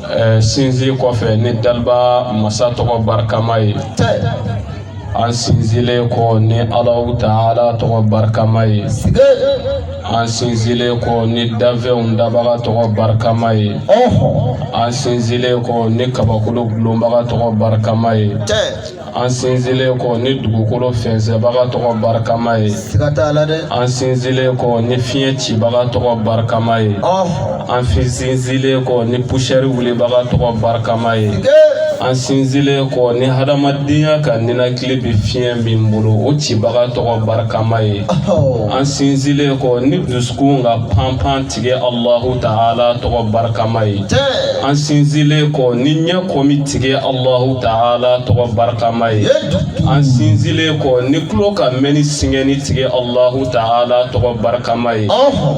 Ɛɛ sinsin kɔfɛ ni daba masa tɔgɔ barikama ye tɛ an sinsinlen kɔ ni alahu taala tɔgɔ barikama ye an sinsinlen kɔ ni danfɛnw dabaga tɔgɔ barikama ye an sinsinlen kɔ ni kabakolo dulonbaga tɔgɔ barikama ye an sinsinlen kɔ ni dugukolo fɛnsɛnbaga tɔgɔ barikama ye siga t'a la dɛ an sinsinlen kɔ ni fiɲɛ cibaga tɔgɔ barikama ye an sinsinlen kɔ ni pusɛri wulibaga tɔgɔ barikama ye an sinsinlen kɔ ni hadamadenya ka ninakili bɛ fiɲɛ min bolo o cibaga tɔgɔ barikama ye an sinsinlen kɔ ni dusukun ka panpan tigɛ Alahu Taala tɔgɔ barikama ye. Cɛn. An sinsinlen kɔ ni ɲɛ kɔmi tigɛ Alahu Taala tɔgɔ barikama ye. An sinsinlen kɔ ni tulo ka mɛnni singɛni tigɛ Alahu Taala tɔgɔ barikama ye.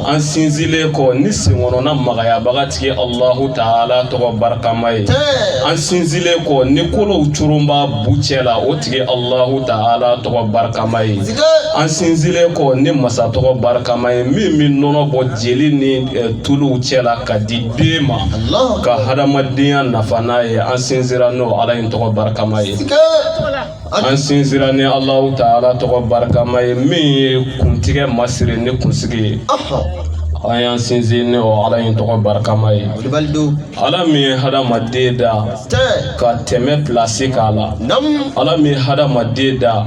An sinsinlen kɔ ni senkɔnɔna magayabaga tigɛ Alahu Taala tɔgɔ barikama ye. Cɛn. An sinsinlen kɔ ni kolow coronba bu cɛ la o tigi Alahu Taala tɔgɔ barikama ye an sinsinlen kɔ ni masa tɔgɔ barikama ye min bɛ nɔnɔ bɔ jeli ni eh, tuluw cɛ la ka di den ma ka hadamadenya nafa n'a ye an sinsinra n'o Ala in tɔgɔ barikama ye an sinsinra ni Alahu Taala tɔgɔ barikama ye min ye kuntigɛ masiri ni kunsigi ye an y'an sinsin ni o Ala in tɔgɔ barikama ye. ala min ye hadamaden da ka tɛmɛ plase k'a la ala min ye hadamaden da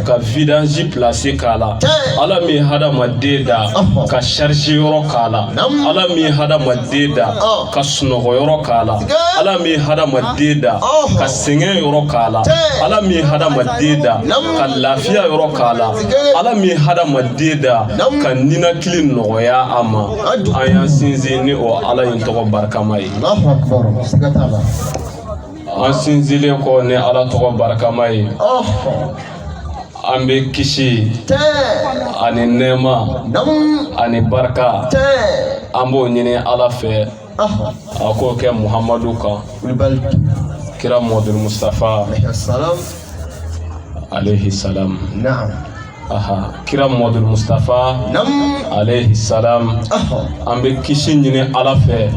ka vidanzi plase k'a la ala min ye hadamaden da ka sharize yɔrɔ k'a la ala min ye hadamaden da ka sunɔgɔ yɔrɔ k'a la ala min ye hadamaden da ka sɛgɛn yɔrɔ k'a la ala min ye hadamaden da ka lafiya yɔrɔ k'a la ala min ye hadamaden da ka ninakili nɔgɔya a ma an y'an sinsin ni o ala in tɔgɔ barikama ye an sinsinlen kɔ ni ala tɔgɔ barikama ye an bɛ kisi ani nɛɛma ani barika an b'o ɲini ala fɛ a k'o kɛ muhamadu kan kira muhamadul mustafa alayhi salam Aha, kira Muhamadu Mustafa alayhi salam an bɛ kisi ɲini Ala fɛ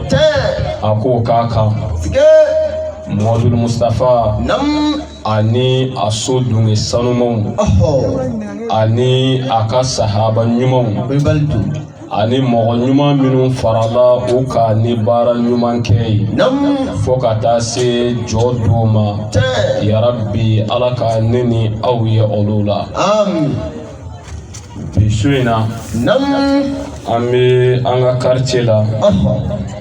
a k'o k'a kan Muhamadu Mustafa ani a so dunke sanumanw ani a ka sahaba ɲumanw ani mɔgɔ ɲuman minnu farala u kan ni baara ɲuman kɛ ye fo ka taa se jɔ don ma yarabi ala ka ne ni aw ye olu la bi su in na an bɛ an ka karice la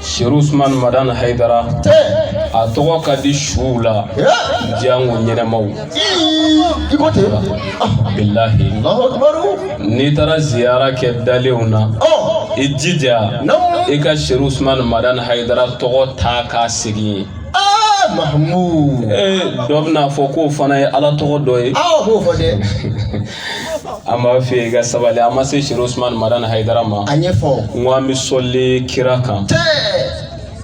Siri Usman Madani Hayidara a tɔgɔ ka di suw la janko ɲɛnamaw bilayi n'i taara ziyara kɛ dalenw na i jija i ka Siri Usman Madani Hayidara tɔgɔ ta k'a sigi yen dɔ bɛn'a fɔ k'o fana ye ala tɔgɔ dɔ ye an b'a fɛ i ka sabali an ma se siri usman madani hayidara ma a ɲɛfɔ n ko an bɛ sɔli kira kan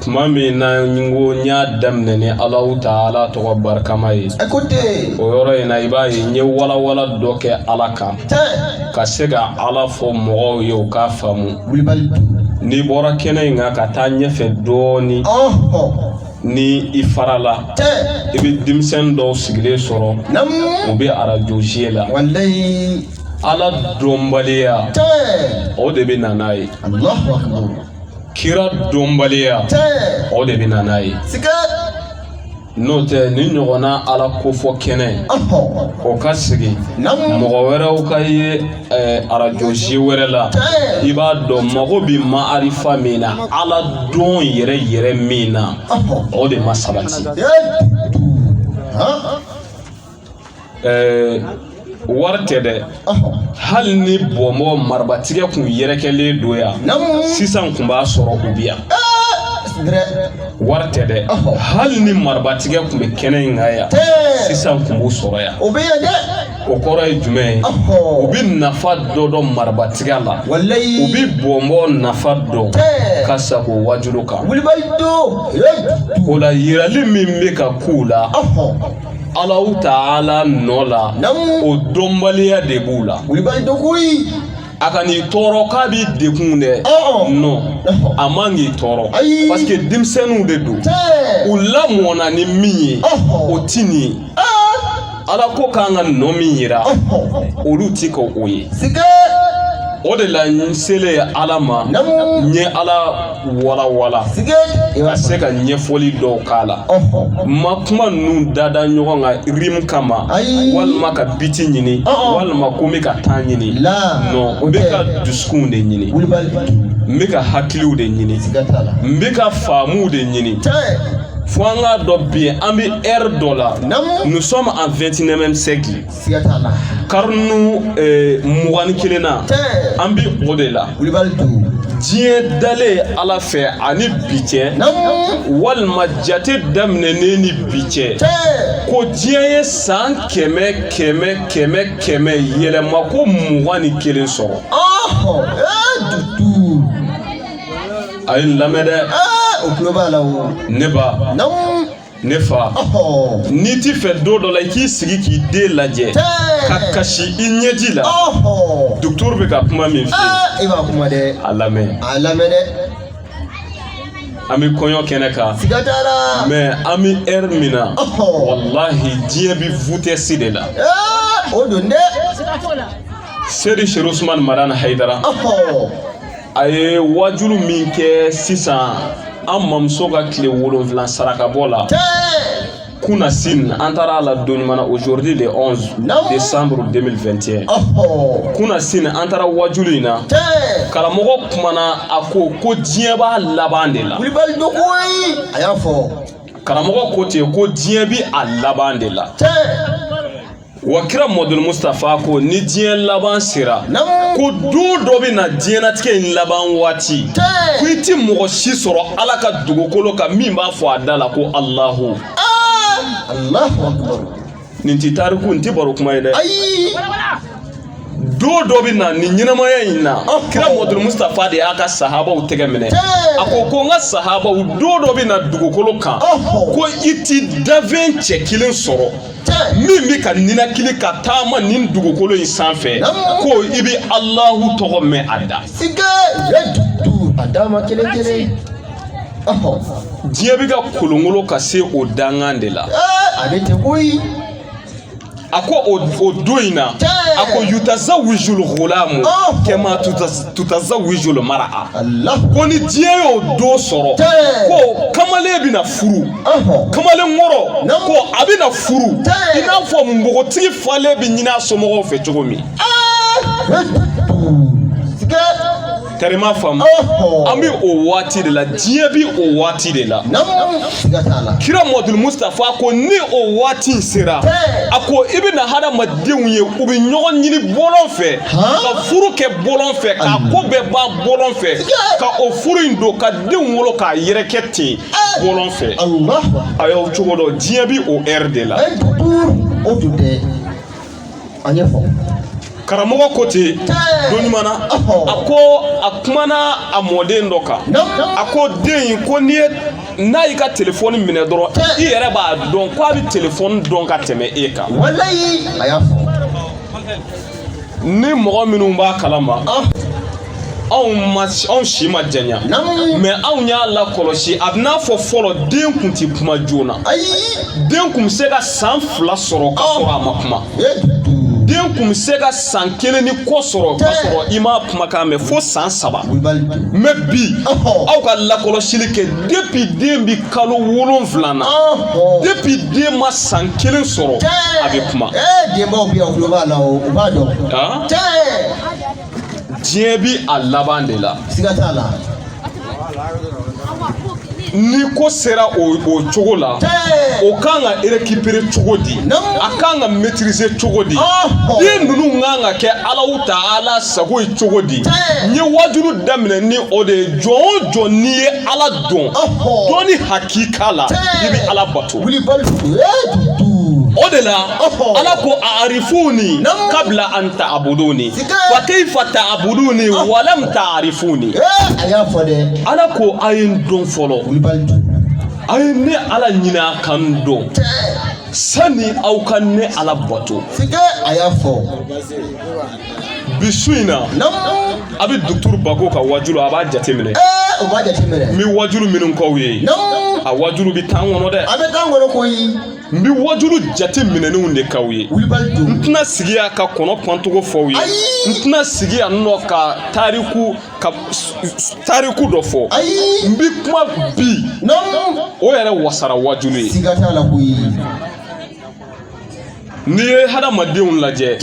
tuma min na n ko n y'a daminɛ ni alahu taala tɔgɔ barikama ye o yɔrɔ in na i b'a ye n ye walawala dɔ kɛ ala kan ka se ka ala fɔ mɔgɔw ye u k'a faamu n'i bɔra kɛnɛ in kan ka taa ɲɛfɛ dɔɔnin ni i farala i bɛ denmisɛnnin dɔw sigilen sɔrɔ u bɛ arajo ziye la ala dɔnbaliya o de bɛ na n'a ye kira dɔnbaliya o de bɛ na n'a ye n'o tɛ nin ɲɔgɔnna ala kofɔ kɛnɛ o ka sigi mɔgɔ wɛrɛw ka ye ɛɛ arajo ziye wɛrɛ la i b'a dɔn mago bɛ maarifa min na ala dɔn yɛrɛ yɛrɛ min na o de ma sabati ɛɛ wari tɛ dɛ hali ni bɔnbɔ marabatigɛ kun yɛrɛkɛlen don yan sisan kun b'a sɔrɔ u bi yan wari tɛ dɛ hali ni marabatigɛ kun bɛ kɛnɛ in kan yan sisan kun b'u sɔrɔ yan o bɛ yan dɛ o kɔrɔ ye jumɛn ye u bɛ nafa dɔ dɔn marabatiga la u bɛ bɔnbɔn nafa dɔn ka sago wajulu kan o la yirali min bɛ ka k'u la Alahu taala nɔ la o dɔnbaliya de b'u la. a kan'i tɔɔrɔ k'a b'i degun dɛ Ɔɔ. non a man k'i tɔɔrɔ Ayi. parce que denmisɛnninw de don Tɛ. u lamɔna ni min ye Ɔhɔ. o ti nin ye Aa. ala ko k'an ka nɔ min yira Ɔhɔ. olu ti ka o ye Sike. o de la n selen ala ma Naamu. n ye ala walawala ka se ka ɲɛfɔli dɔw k'a la ma kuma ninnu dada ɲɔgɔn kan rime kama walima ka biti ɲini walima ko n bɛ ka taa ɲini non n bɛ ka dusukunw de ɲini n bɛ ka hakiliw de ɲini n bɛ ka faamuw de ɲini fo an k'a dɔn bi an bɛ ère dɔ la nous sommes en 21e siècle siga t'a la karinu eh, mugan ni kelen na Tiɲɛ. an bi o de la kulibali dugu diɲɛ dalen ala fɛ ani bi cɛ namu walima jate daminɛnen ni bi cɛ ko diɲɛ ye san kɛmɛ kɛmɛ kɛmɛ kɛmɛ yɛlɛma ko mugan ni kelen sɔrɔ ɔhɔ ee dutu a ye n lamɛn dɛ ee o tulo b'a la o ne ba namu ne fa n'i t'i fɛ don dɔ la i k'i sigi k'i den lajɛ ka kasi i ɲɛji la docteur bɛ ka kuma min fɔ eh, i b'a kuma dɛ a lamɛn a lamɛn dɛ an bɛ kɔɲɔ kɛnɛ kan siga t'a la mais an bɛ ɛri min na walahi diɲɛ bɛ vitɛsi de la eh, o don dɛ seyidi serifu usumani madani hayidara a ye wajulu min kɛ sisan an mamuso ka tile wolonfila sarakabɔ la kunasini an taara a la don ɲuman na aujourd'hui le 11 décembre 2021 kunasini an taara wajulu in na karamɔgɔ kumana a ko ko diɲɛ b'a laban de la kulibali dogo ye a y'a fɔ karamɔgɔ ko ten ko diɲɛ bi a laban de la Wa kira muhamadul mustafa ko ni diɲɛ laban sera ko don dɔ bɛ na diɲɛnatigɛ in laban waati ko i tɛ mɔgɔ si sɔrɔ ala ka dugukolo kan min b'a fɔ a da la ko alahu nin tɛ tariku nin tɛ baro kuma ye dɛ don dɔ bɛ na nin ɲɛnamaya in na kira muhamadul mustafa de y'a ka sahabaw tɛgɛ minɛ a ko ko n ka sahabaw don dɔ bɛ na dugukolo kan ko i tɛ danfɛn cɛ kelen sɔrɔ min bɛ ka ninakili ka taama nin dugukolo in sanfɛ ko i bɛ alahu tɔgɔ mɛn a da. a dama kelen kelen. diɲɛ bɛ ka kolongolo ka se o dankan de la. a bɛ ten koyi. a ko o o don in na a ko yutazawijul gulamu kama tutazawijul mara a ko ni diɲɛ y'o don sɔrɔ ko kamalen bɛna furu. kamalen kɔrɔ ko a bɛ na furu i n'a fɔ npogotigi falen bɛ ɲini a somɔgɔw fɛ cogo min kari ma faamu an bɛ o waati de la diɲɛ bɛ o waati de la kira muhamadul mustafa ko ni o waati sera a ko i bɛ na hadamadenw ye u bɛ ɲɔgɔn ɲini bɔlɔn fɛ ka furu kɛ bɔlɔn fɛ k'a ko bɛɛ ban bɔlɔn fɛ ka o furu in don ka denw wolo k'a yɛrɛkɛ ten bɔlɔn fɛ a y'aw cogo dɔn diɲɛ bi o ɛri de la o tun tɛ a ɲɛfɔ karamɔgɔ ko ten don ɲuman na a ko a kumana a mɔden dɔ kan a ko den in ko n'i ye n'a y'i ka telefɔni minɛ dɔrɔn i yɛrɛ b'a dɔn ko a bɛ telefɔni dɔn ka tɛmɛ e kan walayi a y'a fɔ ni mɔgɔ minnu b'a kalama ah. anw ma anw si ma janya mɛ anw y'a lakɔlɔsi a bɛ n'a fɔ fɔlɔ den kun ti kuma joona den kun bɛ se ka san fila sɔrɔ ka sɔrɔ a ma kuma den kun bɛ se ka san kelen ni kɔ sɔrɔ ka sɔrɔ i m'a kumakan mɛn fo san saba mɛ bi aw ka lakɔlɔsili kɛ depi den bi kalo wolonwula na depuis den ma san kelen sɔrɔ a bɛ kuma denbaw bɛ yan u tulo b'a la o u b'a dɔn diɲɛ bi a laban de la siga t'a la ni ko sera o o cogo la o kan ka récupérer cogo di a kan ka maîtriser cogo di den ninnu kan ka kɛ alahu ta'ala sago ye cogo di n ye wajulu daminɛ ni o de ye jɔn o jɔn n'i ye ala dɔn dɔnni hakika la i bɛ ala bato o de la ala ko a'rifuni kabla an ta'buduni fa kayfa ta'buduni walam ta'rifuni a y'a fɔ dɛ ala ko a ye n dɔn fɔlɔ a ye ne ala ɲini a ka n dɔn sani aw ka ne ala bato a y'a fɔ bi su in na a bɛ dukturu bako ka wajulu a b'a jateminɛ o b'a jateminɛ n bɛ wajulu minnu k'aw ye a wajulu bɛ tan kɔnɔ dɛ a bɛ tan kɔnɔ koyi n bɛ wajulu jate minɛnenw de k'aw ye n tɛna sigi yan ka kɔnɔ pantɔ ko fɔ aw ye n tɛna sigi yan nɔ ka tariku ka tariku dɔ fɔ n bɛ kuma bi o yɛrɛ wasara wajulu ye n'i ye hadamadenw lajɛ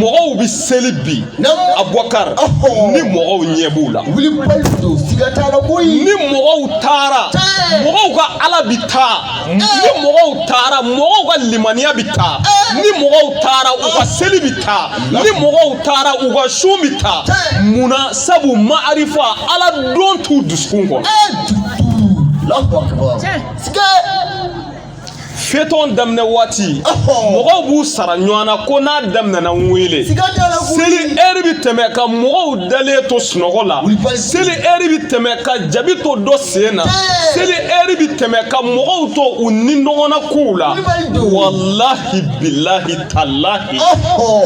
mɔgɔw bɛ seli bi abubakar ni mɔgɔw ɲɛ b'u la ni mɔgɔw taara mɔgɔw ka ala bɛ taa ni mɔgɔw taara mɔgɔw ka limaniya bɛ taa ni mɔgɔw taara u ka seli bɛ taa ni mɔgɔw taara u ka sun bɛ taa munna sabu maarifa ala dɔn t'u dusukun kɔnɔ. fetɔn daminɛ waati mɔgɔw b'u sara ɲɔgɔn na ko n'a daminɛna n wele seli ɛri bi tɛmɛ ka mɔgɔw dalen to sunɔgɔ la seli ɛri bi tɛmɛ ka jabi to dɔ sen na seli ɛri bi tɛmɛ ka mɔgɔw to u nidungɔna kow la walahi bilahi talahi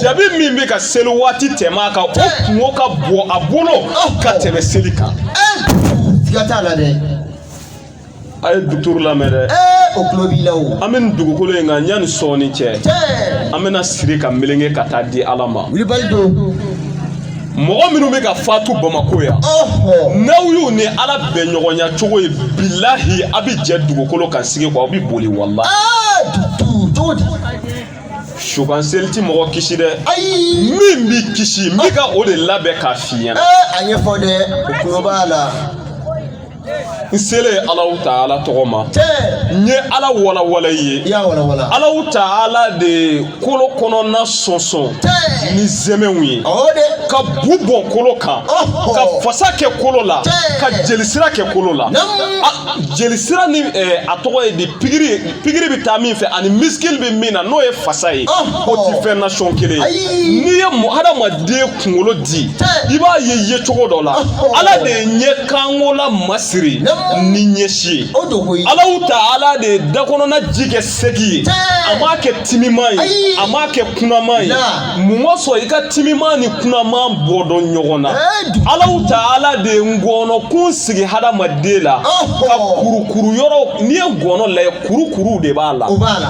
jabi min bɛ ka seli waati tɛmɛ a kan o kunko ka bon a bolo ka tɛmɛ seli kan. siga t'a la dɛ. a ye duturu lamɛn dɛ o tulo b'i la o an bɛ nin dugukolo in kan yanni sɔɔni cɛ cɛɛ an bɛna siri ka melenge ka taa di ala ma wulibali don mɔgɔ minnu bɛ ka fatu bamako yan ɔhɔ n'aw y'u ni ala bɛn ɲɔgɔnya cogo ye bilahi a bɛ jɛ dugukolo kan sigi kɔ aw bɛ boli wala aa dutu cogo di sukan seli ti mɔgɔ kisi dɛ ayi min b'i kisi n bɛ ka o de labɛn k'a f'i ɲɛna ee a ɲɛfɔ dɛ o tulo b'a la n selen alahu taala tɔgɔ ma n ye ala walawala i ye alahu taala de kolo kɔnɔna sɔnsɔn ni zɛmɛw ye ka bu bɔn kolo kan ka fasa kɛ kolo la ka jelisira kɛ kolo la jelisira ni a tɔgɔ ye di pikiri pikiri bɛ taa min fɛ ani misikili bɛ min na n'o ye fasa ye o tɛ fɛn nasɔn kelen ye n'i ye mɔgɔ hadamaden kunkolo di i b'a ye ye cogo dɔ la ala de ye ɲɛ kankola masiri ni ɲɛsi ye alahu taala de ye dakɔnɔna ji kɛ segi ye a m'a kɛ timiman ye a m'a kɛ kunaman ye mun kosɔn i ka timiman ni kunaman bɔ dɔn ɲɔgɔn na alahu taala de ye ngɔnɔ kun sigi hadamaden la ka kurukuru yɔrɔ n'i ye ngɔnɔ lajɛ kurukuru de b'a la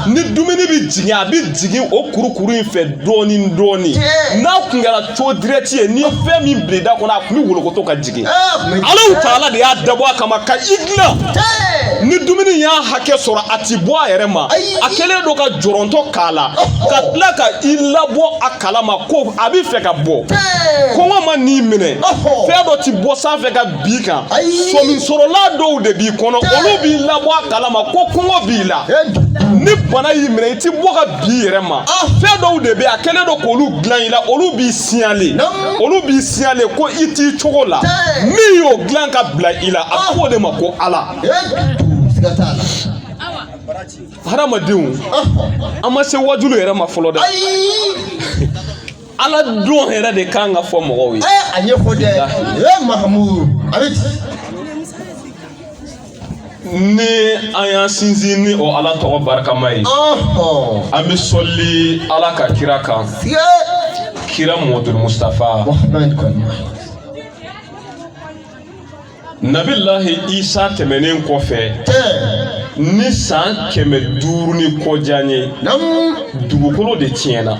ni dumuni bɛ jigin a bɛ jigin o kurukuru in fɛ dɔɔni dɔɔni n'a kun kɛra tiyo dirɛti ye n'i ye fɛn min bila i da kɔnɔ a kun bɛ wolokoto ka jigin. jigin alahu taala de y'a dabɔ a kama ka i dilan ni dumuni y'a hakɛ sɔrɔ a ti bɔ a yɛrɛ ma a kɛlen don ka jɔrɔntɔ k'a la ka tila ka i labɔ a kalama ko a bɛ fɛ ka bɔ kɔngɔ man'i minɛ fɛn dɔ ti bɔ sanfɛ ka b'i kan sɔminsɔrɔla dɔw de b'i kɔnɔ olu b'i labɔ a kalama ko kɔngɔ b'i la ni bana y'i minɛ i ti bɔ ka b'i yɛrɛ ma fɛn dɔw de bɛ a kɛlen don k'olu dilan i la olu b'i siɲale olu b'i siɲale ko i t'i cogo la min y'o dilan ka bila i la a tɔgɔ de ma ko ala hadamadenw an ma se wajulu yɛrɛ ma fɔlɔ dɛ ala dɔn yɛrɛ de kan ka fɔ mɔgɔw ye a ɲɛfɔ dɛ mahamudu ni an y'an sinsin ni o ala tɔgɔ barikama ye an bɛ sɔli ala ka kira kan kira muhamadul mustafa nabilahi isa tɛmɛnen kɔfɛ ni san kɛmɛ duuru ni kɔjan ye dugukolo de tiɲɛna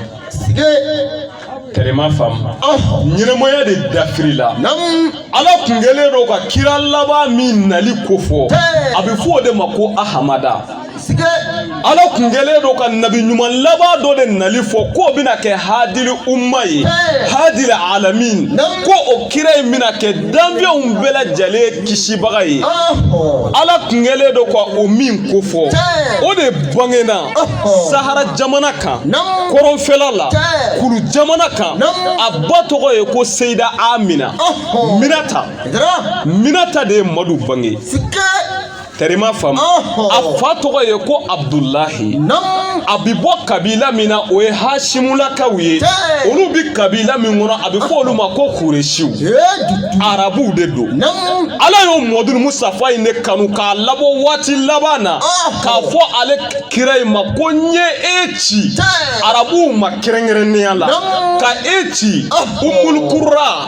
tɛrɛma faamu ɲɛnamaya de dafirila ala kun kɛlen don ka kira laban min nali kofɔ a bɛ fɔ o de ma ko ahamada ala kun kɛlen don ka nabi ɲuman laban dɔ de nali fɔ k'o bɛna kɛ hadili umma ye hadili alamin ko o kira in bɛna kɛ danfɛnw bɛɛ lajɛlen kisibaga ye ala tun kɛlen don ka o min kofɔ o de bangena sahara jamana kan kɔrɔnfɛla la kulu jamana kan a ba tɔgɔ ye ko seyida amina minata minata de ye madu bange Tari ma faamu a fa tɔgɔ ye ko abdulahi a bɛ bɔ kabila min na o ye hasimulakaw ye olu bɛ kabila min kɔnɔ a bɛ fɔ olu ma ko kuresiw arabuw de don ala y'o muhammadul mustafa in de kanu k'a labɔ waati laban na k'a fɔ ale kira in ma ko n ye e ci arabuw ma kɛrɛnkɛrɛnnenya la ka e ci umulukura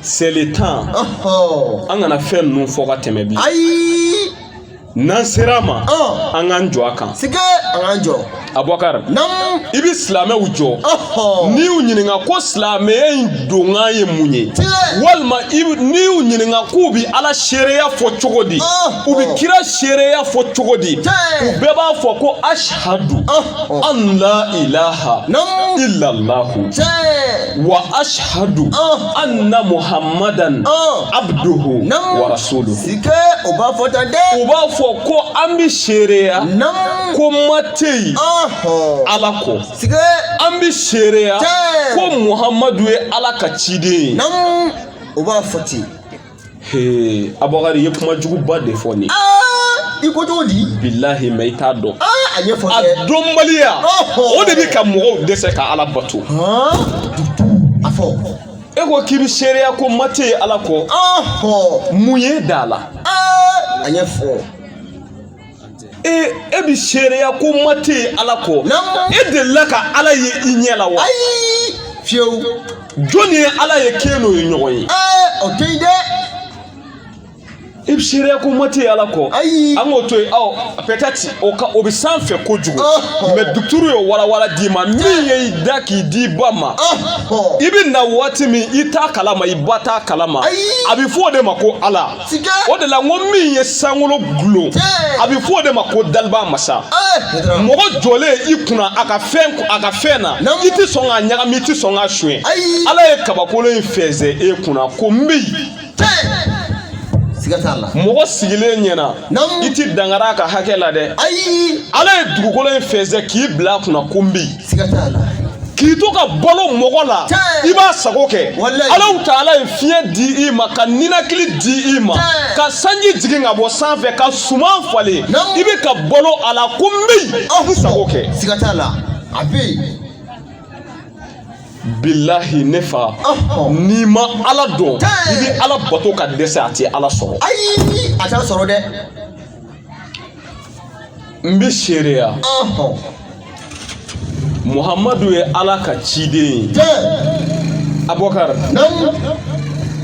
seli tan an kana fɛn ninnu fɔ ka tɛmɛ bi ayi n'an sera a ma an k'an jɔ a kan sike an k'an jɔ abubakar i bɛ silamɛw jɔ n'i y'u ɲininka ko silamɛya in donkan ye mun ye walima n'i y'u ɲininka k'u bɛ ala seereya fɔ cogo di u bɛ kira seereya fɔ cogo di u bɛɛ b'a fɔ ko ashadu an la ilaha illallahu wa ashadu ah. anna muhammadan ah. abduhu wa rasuluhu. sike u b'a fɔ tan dɛ. u b'a fɔ ko an bɛ seereya. namu ko ma tɛ yen. ala kɔ. sike an bɛ seereya. tɛ ko muhammadu ye ala ka ciden ye. namu u b'a fɔ ten. abubakari i ye kuma juguba de fɔ nin ye i ko cogo di bilahi mɛ i t'a dɔn a ɲɛfɔ a dɔnbaliya o de bɛ ka mɔgɔw dɛsɛ ka ala bato a fɔ e ko k'i bɛ seereya ko ma tɛ yen ala kɔ mun y'i da a la a ɲɛfɔ ee e bɛ seereya ko ma tɛ yen ala kɔ e delila ka ala ye i ɲɛ la wa ayi fiyewu jɔnni ye ala ye k'e n'o ye ɲɔgɔn ye ee o tɛ yen dɛ i bɛ seereya ko ma tɛ yen ala kɔ ayi an k'o to yen ɔ pɛtɛti o ka o bɛ sanfɛ kojugu mɛ dukturu ye walawala d'i ma min ye i da k'i d'i ba ma i bɛ na waati min i t'a kalama i ba t'a kalama a bɛ fɔ o de ma ko ala o de la n ko min ye sankolo dulon a bɛ fɔ o de ma ko daliba masa mɔgɔ jɔlen i kunna a ka fɛn a ka fɛn na i tɛ sɔn k'a ɲagami i tɛ sɔn k'a suɲɛ ala ye kabakolo in fɛnsɛn e kunna ko n bɛ yen mɔgɔ sigilen ɲɛna i tɛ dankari a ka hakɛ la dɛ ayi ala ye dugukolo in fɛnsɛn k'i bila a kunna ko n bɛ yen siga t'a la k'i to ka balo mɔgɔ la i b'a sago kɛ alahu taala ye fiɲɛ di i ma ka ninakili di i ma ka sanji jigin ka bɔ sanfɛ ka suman falen i bɛ ka balo a la ko n bɛ yen i sago kɛ siga t'a la a bɛ yen bilahi ne fa n'i ma ala dɔn i bɛ ala bato ka dɛsɛ a tɛ ala sɔrɔ ayi a t'a sɔrɔ dɛ N bɛ seereya. Ɔnhɔn. Muhamadu ye Ala ka ciden ye. Tiɲɛ. Abubakar. Naamu.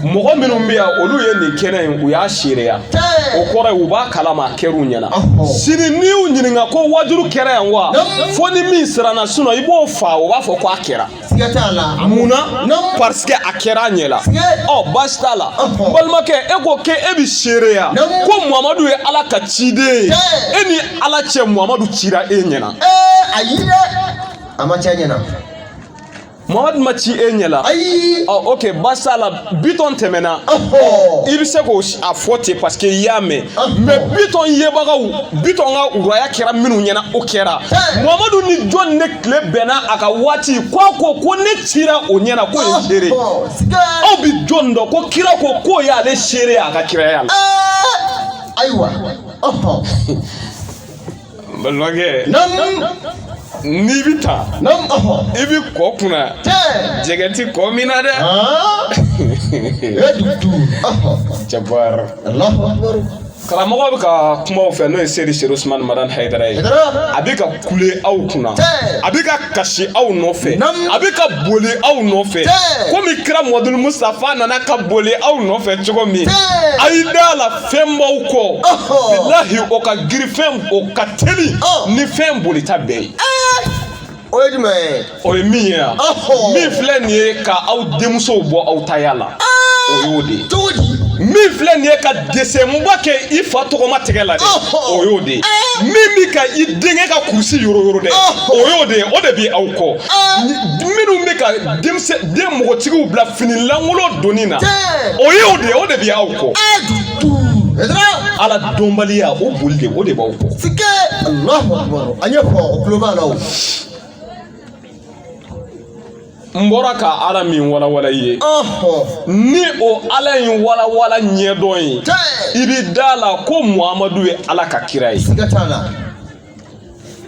Mɔgɔ minnu bɛ yan olu ye nin kɛnɛ in u y'a seereya. Tiɲɛ. O kɔrɔ ye u b'a kalama a kɛr'u ɲɛna. Ɔnhɔn. Sini n'i y'u ɲininka ko wajulu kɛra yan wa? Naamu. Fo ni min siranna sinon i b'o faa o b'a fɔ ko a kɛra. siga t'a la mun na parce que a kɛra a ɲɛ la ɔ baasi t'a la n balimakɛ e ko k'e e bɛ seereya ko muhamadu ye ala ka ciden ye e ni ala cɛ muhamadu cira e ɲɛna ayi dɛ a ma ci n ɲɛna muhamadu ma ci e ɲɛ la ayi ɔ ok baasi t'a la bitɔn tɛmɛna i bɛ se k'a fɔ ten parce que i y'a mɛn mais bitɔn yebagaw bitɔn ka uraya kɛra minnu ɲɛna o kɛra muhamadu ni jɔn ne tile bɛnna a ka waati k'a ko ko ne cira o ɲɛna k'o ye seere aw bɛ jɔn dɔn ko kira ko k'o y'ale seere a ka kiraya la ayiwa balimakɛ n'i bɛ taa i bɛ kɔ kunna jɛgɛ ti kɔ min na dɛ jabara karamɔgɔ bɛ ka kuma aw fɛ n'o ye seyidi serifu usumani madani hayidara ye a bɛ ka kule aw kunna a bɛ ka kasi aw nɔfɛ a bɛ ka boli aw nɔfɛ komi kira muhamadul musutafa nana ka boli aw nɔfɛ cogo min a y'i da la fɛn b'aw kɔ bilahi o ka girin fɛn o ka teli ni fɛn bolita bɛɛ ye o ye jumɛn ye o ye min ye yan min filɛ nin ye ka aw denmusow bɔ aw taya la o y'o de ye cogo di min filɛ nin ye ka desenba kɛ i fa tɔgɔma tɛgɛ la dɛ o y'o de ye min bi ka i denkɛ ka kurusi yoro yoro dɛ o y'o de ye o de bi aw kɔ minnu bɛ ka denmisɛn den mɔgɔtigiw bila fini lankolon donni na o ye o de ye o de bɛ aw kɔ ala dɔnbaliya o boli de o de b'aw kɔ sike alahu akubaru an ye fɔ o tulo b'a la o n bɔra ka ala min walawala i ye ni o ala in walawala ɲɛdɔn ye i bɛ da a la ko muhamadu ye ala ka kira ye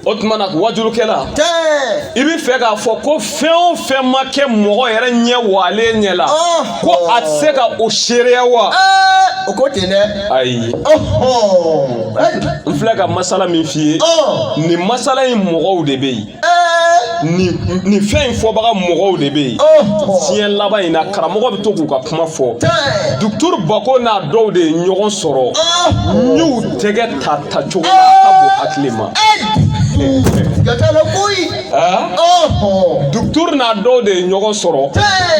o tuma na wajulukɛla i bɛ fɛ k'a fɔ ko fɛn o fɛn ma kɛ mɔgɔ yɛrɛ ɲɛ waalen ɲɛ la ko a tɛ se ka o seereya wa o ko tɛ dɛ ayi n filɛ ka masala min f'i ye nin masala in mɔgɔw de bɛ yen nin fɛn in fɔbaga mɔgɔw de bɛ yen diɲɛ laban in na karamɔgɔ bɛ to k'u ka kuma fɔ duturu bako n'a dɔw de ye ɲɔgɔn sɔrɔ n y'u tɛgɛ ta ta cogo la a ka bon hakili ma. Gatala koyi. Duturu n'a dɔw de ye ɲɔgɔn sɔrɔ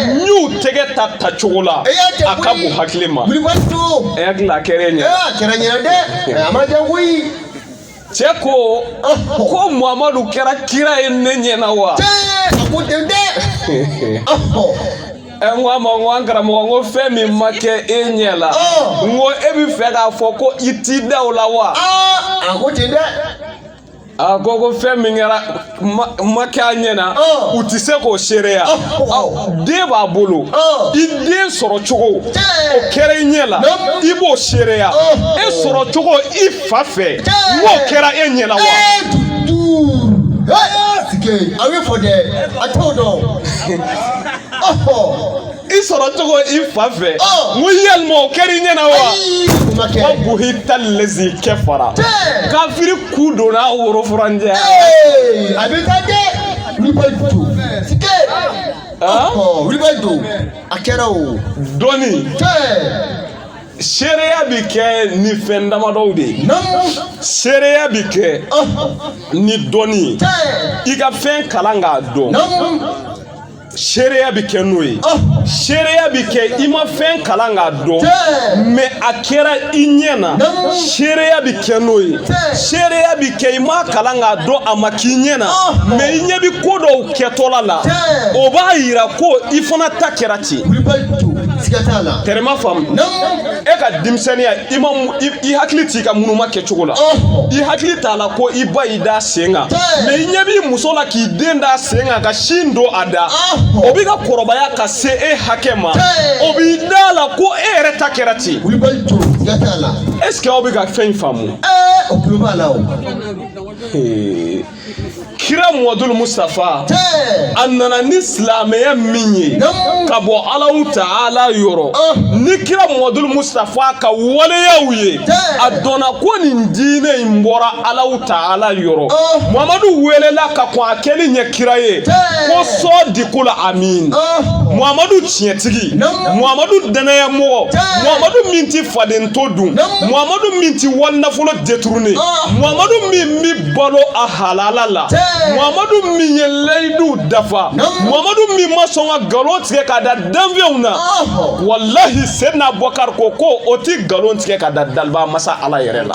n y'u tɛgɛ ta ta cogo la a ka bon hakili ma. Kulibali don. E hakili la a kɛra e ɲɛ. A kɛra ɲɛ dɛ a ma jan koyi. cɛ ko ko muhamadu kɛra kira ye ne ɲɛ na wa. a ko ten dɛ. ɛ n ko a ma n ko an karamɔgɔ n ko fɛn min ma kɛ e ɲɛ la n ko e bɛ fɛ k'a fɔ ko i t'i da o la wa. a ko ten dɛ. a ko ko fɛn min kɛra. ma kɛ a ɲɛ na oh. u tɛ se k'o seereya oh, oh. den b'a bolo i den sɔrɔ cogo o kɛra i ɲɛ la i b'o seereya e sɔrɔ cogo i fa fɛ n ko o kɛra e ɲɛ la wa. a bɛ fɔ dɛ a t'o dɔn. i sɔrɔ cogo i fa fɛ n ko yalima o kɛra i ɲɛna wa ko buhita lezi kafara kafiri ku donna woro furanjɛ a bɛ taa dɛ wulibɛ ju sike wulibɛ ju a kɛra o dɔɔni seereya bi kɛ ni fɛn damadɔw de ye seereya bi kɛ ni dɔnni ye i ka fɛn kalan k'a dɔn seereya bɛ kɛ n'o ye seereya bɛ kɛ i ma fɛn kalan k'a dɔn mais a kɛra i ɲɛ na seereya bɛ kɛ n'o ye seereya bɛ kɛ i ma kalan k'a dɔn a ma k'i ɲɛ na mais i ɲɛ bɛ ko dɔw kɛtɔla la o b'a yira ko i fana ta kɛra ten terima faamu e ka denmisɛnninya i ma i hakili t'i ka munuma kɛcogo la i hakili t'a la ko i ba y'i da sen kan mais i ɲɛ b'i muso la k'i den da sen kan ka sin don a da o bɛ ka kɔrɔbaya ka se e hakɛ ma o b'i da a la ko e yɛrɛ ta kɛra ten est ce que aw bɛ ka fɛn in faamu aw tulo b'a la o kira muhamadul mustafa a nana ni silamɛya min ye ka bɔ alahu taala yɔrɔ ni kira muhamadul mustafa ka waleyaw ye a dɔnna ko nin diinɛ in bɔra alahu taala yɔrɔ mamadu welela ka kɔn a kɛli ɲɛ kira ye ko sadikul amin mamadu tiɲɛtigi mamadu danaya mɔgɔ mamadu min ti faden to dun mamadu min ti wali nafolo détourné mamadu min bi balo a halala la mamadu min ye layidu dafa mamadu min ma sɔn ka nkalon tigɛ ka da danfɛnw na walahi seyidina abubakari ko ko o ti nkalon tigɛ ka da daliba masa ala yɛrɛ la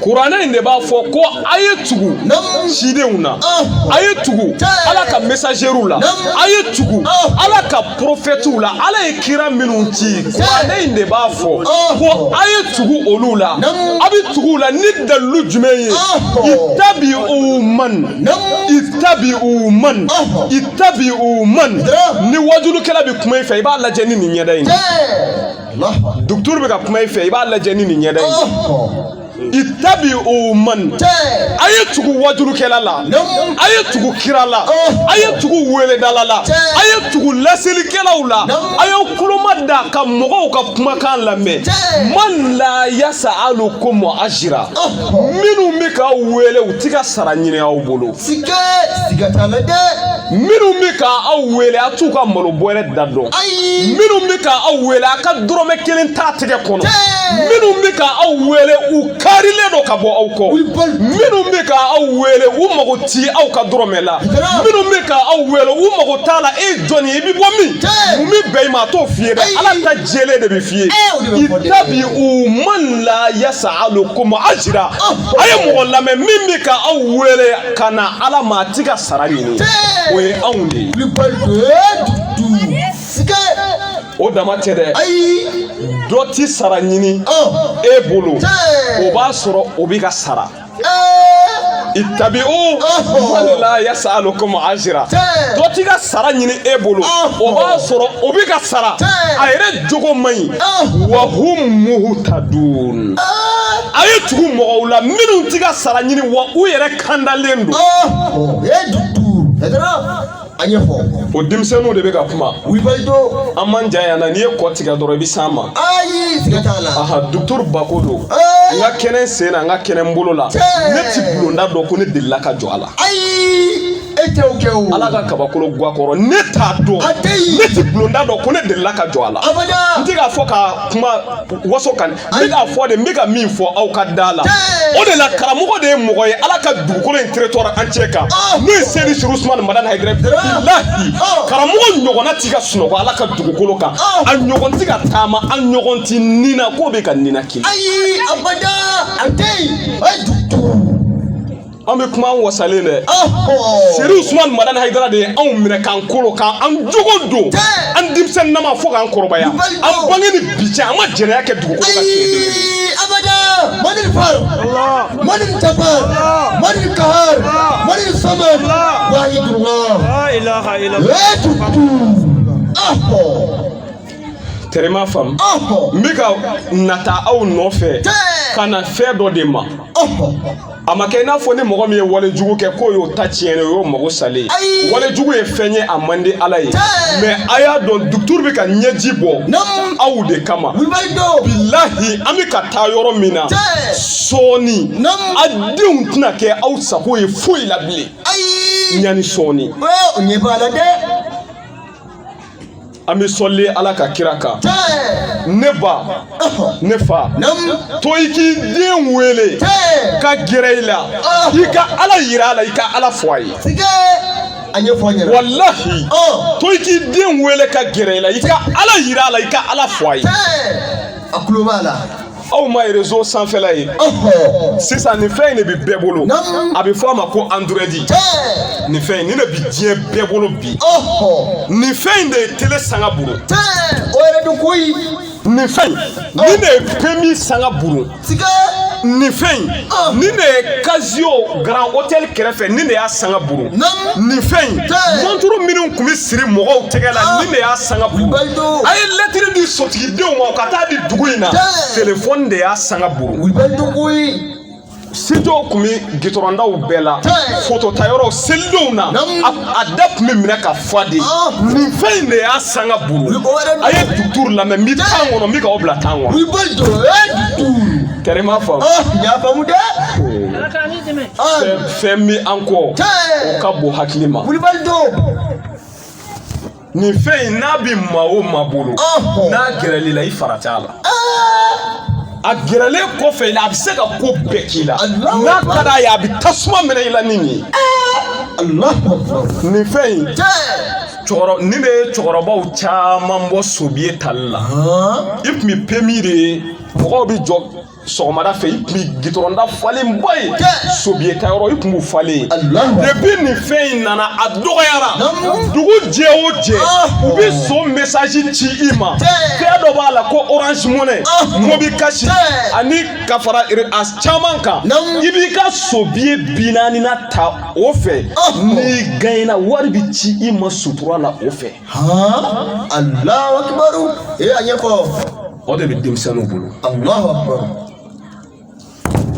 kuranɛ in de b'a fɔ ko a ye tugu cidenw na a ye tugu ala ka mesazeriw la a ye tugu ala ka porofɛtiw la ala ye kira minnu ci kuranɛ in de b'a fɔ ko a ye tugu olu la a bɛ tugu la ni dalilu jumɛn ye itabi'u man itabi'u man itabi'u man ni wajulukɛla bɛ kuma i fɛ i b'a lajɛ ni nin ɲɛda in ye. dukuturu bɛ ka kuma i fɛ i b'a lajɛ ni nin ɲɛda ye itabi'u man a ye tugu wajurukɛla la a ye tugu kira la a ye tugu weledala la a ye tugu laselikɛlaw la a ye kuloma da ka mɔgɔw ka kumakan lamɛn man la yasalukum ajira minnu bɛ k'aw wele u ti ka sara ɲini aw bolo sikɛ siga t'a la dɛ minnu bɛ ka aw wele a t'u ka malo bɔrɛ da dɔn ayi minnu bɛ ka aw wele a ka dɔrɔmɛ kelen t'a tɛgɛ kɔnɔ minnu bɛ ka aw wele u karilen don ka bɔ aw kɔ minnu bɛ ka aw wele u mago ti aw ka dɔrɔmɛ la minnu bɛ ka aw wele u mago t'a la e jɔn ye i bɛ bɔ min mun bɛ bɛn i ma a t'o f'i ye dɛ ala ta jɛlen de bɛ f'i ye itabi'u man la yasalukum ajira a ye mɔgɔ lamɛn min bɛ ka aw wele ka na ala ma a ti ka sara ɲini o ye anw de ye o dama tɛ dɛ ayi dɔ ti sara ɲini e bolo o b'a sɔrɔ o bɛ ka sara itabi'u man la yasalukum ajira dɔ ti ka sara ɲini e bolo o b'a sɔrɔ o bɛ ka sara a yɛrɛ jogo man ɲi wa hum muhtadun a ye tugu mɔgɔw la minnu ti ka sara ɲini wa u yɛrɛ kandalen don an ye fɔ o denmisɛnninw de bɛ ka kuma wibalido an man jan yan na n'i ye kɔ tigɛ dɔrɔn i bɛ s'an ma ayi siga t'a la aha docteur bako don n ka kɛnɛ sen na n ka kɛnɛ n bolo la ne ti bulonda dɔn ko ne delila ka jɔ a la ayi e tɛ o kɛ o. ala ka kabakolo guwa kɔrɔ ne t'a dɔn. a tɛ yen. ne ti bulonda dɔn ko ne delila ka jɔ a la. abada. n tɛ k'a fɔ ka kuma waso kan. n bɛ k'a fɔ de n bɛ ka min fɔ aw ka da la. o de la karamɔgɔ de ye mɔgɔ ye ala ka dugukolo in territoire entier kan. n'o ye seyidi sɛrifu usumani madani hayidara. bilahi karamɔgɔ ɲɔgɔnna ti ka sunɔgɔ ala ka dugukolo kan. a ɲɔgɔn tɛ ka taama a ɲɔgɔn tɛ ni na k'o bɛ ka ninakili. ayi abada a tɛ yen. an bɛ kuma an wasalen dɛ seri usumani madani hayidara de ye anw minɛ k'an kolo k'an jogo don an denmisɛnnin nama fo k'an kɔrɔbaya an bange ni bi cɛ an ma jɛnɛya kɛ dugukolo kan abada mani far mani jabar mani kahar mani samad wahidullah la ilaha illallah tɛrɛ ma faamu n bɛ ka nata aw nɔfɛ ka na fɛn dɔ de ma a ma kɛ i n'a fɔ ni mɔgɔ min ye wale jugu kɛ k'o y'o ta tiɲɛnen o y'o mago salen ye wale jugu ye fɛn ye a man di ala ye mɛ a y'a dɔn duturu bɛ ka ɲɛji bɔ aw de kama bilahi an bɛ ka taa yɔrɔ min na sɔɔni a denw tɛna kɛ aw sago ye foyi la bilen ɲani sɔɔni o ɲɛ b'a la dɛ an bɛ sɔli ala ka kira kan ne ba ne fa to i k'i den wele ka gɛrɛ i la i ka ala yira a la i ka ala fɔ a ye a ɲɛfɔ an ɲɛna walahi to i k'i den wele ka gɛrɛ i la i ka ala yira a la i ka ala fɔ a ye a kulo b'a la aw ma rezo sanfɛla ye sisan nin fɛn in de bɛ bɛɛ bolo a bɛ fɔ a ma ko android nin fɛn in nin de bɛ diɲɛ bɛɛ bolo bi nin fɛn in de ye tele sanga buru o yɛrɛ don koyi nin fɛn in nin de ye pemi sanga buru nin fɛn in nin de ye kazi Sio Grand Hotel kɛrɛfɛ nin de y'a sanga buru nin fɛn in mɔnturu minnu tun bɛ siri mɔgɔw tɛgɛ la ah. nin de y'a sanga buru a ye lɛtiri di sotigidenw ma ka taa di dugu in na telefɔni de y'a sanga buru studio tun bɛ gitɔrɔndaw bɛɛ la fototayɔrɔw selidenw na a da tun bɛ minɛ ka fa dɛ nin fɛn in de y'a sanga buru a ye duturu lamɛn n bɛ tan kɔnɔ n bɛ k'aw bila tan kɔnɔ. i bɛ jɔ e duturu. kɛrɛ ma faamu. n y'a faamu dɛ. fɛn bɛ an kɔ o ka bon hakili ma. kulubali don. nin fɛn in n'a bɛ maa o maa bolo n'a gɛrɛl'i la i fara t'a la. a gɛrɛlen kɔfɛ i la a bɛ se ka ko bɛɛ k'i la n'a ka d'a ye a bɛ tasuma minɛ i la ni nin ye nin fɛn in nin de ye cɛkɔrɔbaw caman bɔ sobiye tali la i tun bɛ pemi de ye mɔgɔw bɛ jɔ sɔgɔmada fɛ i tun bɛ gitɔrɔnda falenba ye sobiye ta yɔrɔ i tun b'u falen depuis nin fɛn in nana a dɔgɔyara dugu jɛ o jɛ u bɛ so mesaji ci i ma fɛn dɔ b'a la ko orange money ah. mobi kasi ani ka fara a caman kan i b'i ka sobiye bi naani na ta o fɛ ah. n'i gaɲɛna wari bɛ ci i ma sutura la o fɛ. alahu akibaru ee a ɲɛfɔ. o de bɛ denmisɛnninw bolo. alahu akibaru.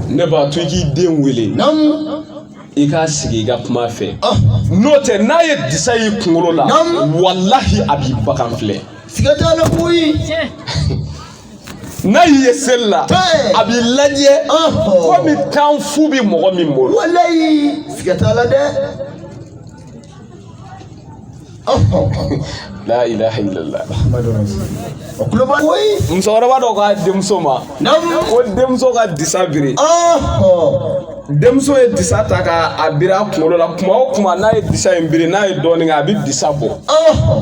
ne b'a to i k'i den wele i k'a sigi i ka kuma a fɛ ah. n'o tɛ n'a ye disa y'i kunkolo la walahi a b'i bagan filɛ siga t'a la koyi n'a y'i ye seli la a b'i lajɛ ah. komi tan fu bɛ mɔgɔ min bolo walayi siga t'a la dɛ la ilaha illallah o kuloba koyi musokɔrɔba dɔ k'a denmuso ma ko denmuso ka disa biri denmuso ye disa ta ka a biri a kunkolo la kuma o kuma n'a ye disa in biri n'a ye dɔɔnin kɛ a bɛ disa bɔ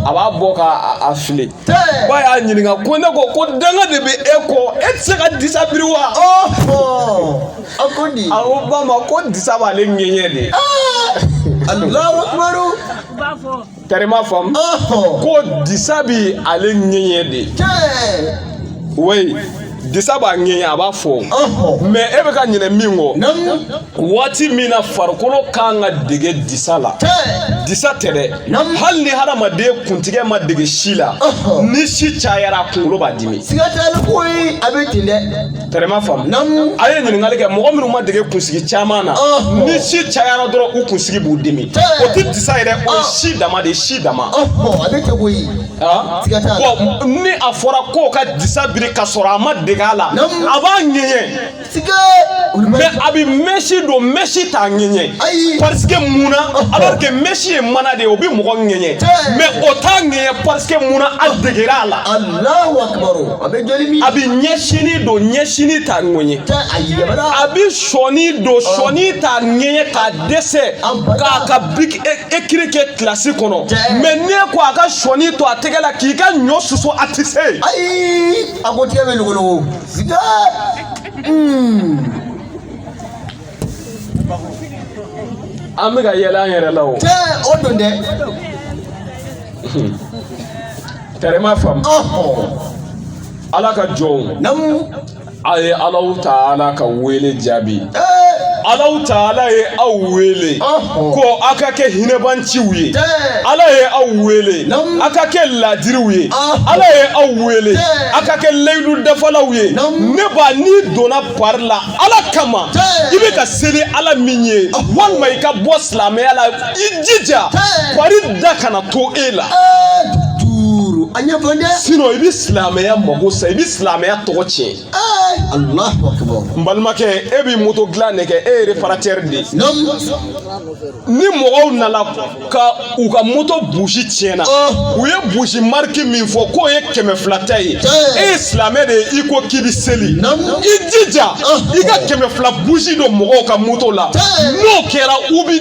a b'a bɔ ka a fili ba y'a ɲininka ko ne ko ko danga de bɛ e kɔ e tɛ se ka disa biri wa A ko di a ko ba ma ko disa b'ale ŋɛɲɛ de allahu akbar kari ma faamu ko disa bi ale ŋɛɲɛ de wa disa b'a ŋɛɲɛ a b'a fɔ mais e bɛ ka ɲinɛ min kɔ waati min na farikolo ka kan ka dege disa la disa tɛ dɛ hali ni hadamaden kuntigɛ ma dege si la ni si cayara a kunkolo b'a dimi siga t'a la koyi a bɛ ten dɛ tɛrɛma faamu a ye ɲininkali kɛ mɔgɔ minnu ma dege kunsigi caman na ni si cayara dɔrɔn u kunsigi b'u dimi o tɛ disa yɛrɛ o ye si dama de ye si dama ni a fɔra k'o ka disa biri ka sɔrɔ a ma dege a la a b'a ŋɛɲɛ mais a bɛ mɛsi don mɛsi t'a ŋɛɲɛ parce que mun na alors que mɛsi ye mana de ye o bɛ mɔgɔ ŋɛɲɛ mais o t'a ŋɛɲɛ parce que mun na a degera a la. a bɛ joli min a bɛ ɲɛsini don ɲɛsini t'a ŋɛɲɛ a bɛ sɔni don sɔni t'a ŋɛɲɛ ka dɛsɛ k'a ka biki ekiri kɛ kilasi kɔnɔ mais n'e ko a ka sɔni to a tɛgɛ la k'i ka ɲɔ susu a tɛ se yen. ayi a ko tɛgɛ bɛ logologo siga. an bɛ ka yɛlɛ an yɛrɛ la o. cɛ o don dɛ. Tɛrɛ ma faamu ala ka jɔnw namu a ye allahu taala ka wele jaabi allahu taala ye aw wele ko aw ka kɛ hinɛbaanciw ye ala ye aw wele aw ka kɛ laadiriw ye ala ye aw wele aw ka kɛ layidu dafalaw ye ne ba n'i donna pari la ala kama i bɛ ka seli ala min ye walima i ka bɔ silamɛya la i jija pari da kana to e la duuru a ɲɛfɔ dɛ sinɔn i bɛ silamɛya mago sa i bɛ silamɛya tɔgɔ tiɲɛ alahu akibaru n balimakɛ e bɛ moto dilan de kɛ e ye reparatɛri de ni mɔgɔw nana ka u ka moto busi tiɲɛna u ye busi mariki min fɔ k'o ye kɛmɛ fila ta ye e ye silamɛ de ye i ko k'i bɛ seli i jija i ka kɛmɛ fila busi don mɔgɔw ka moto la n'o kɛra u bɛ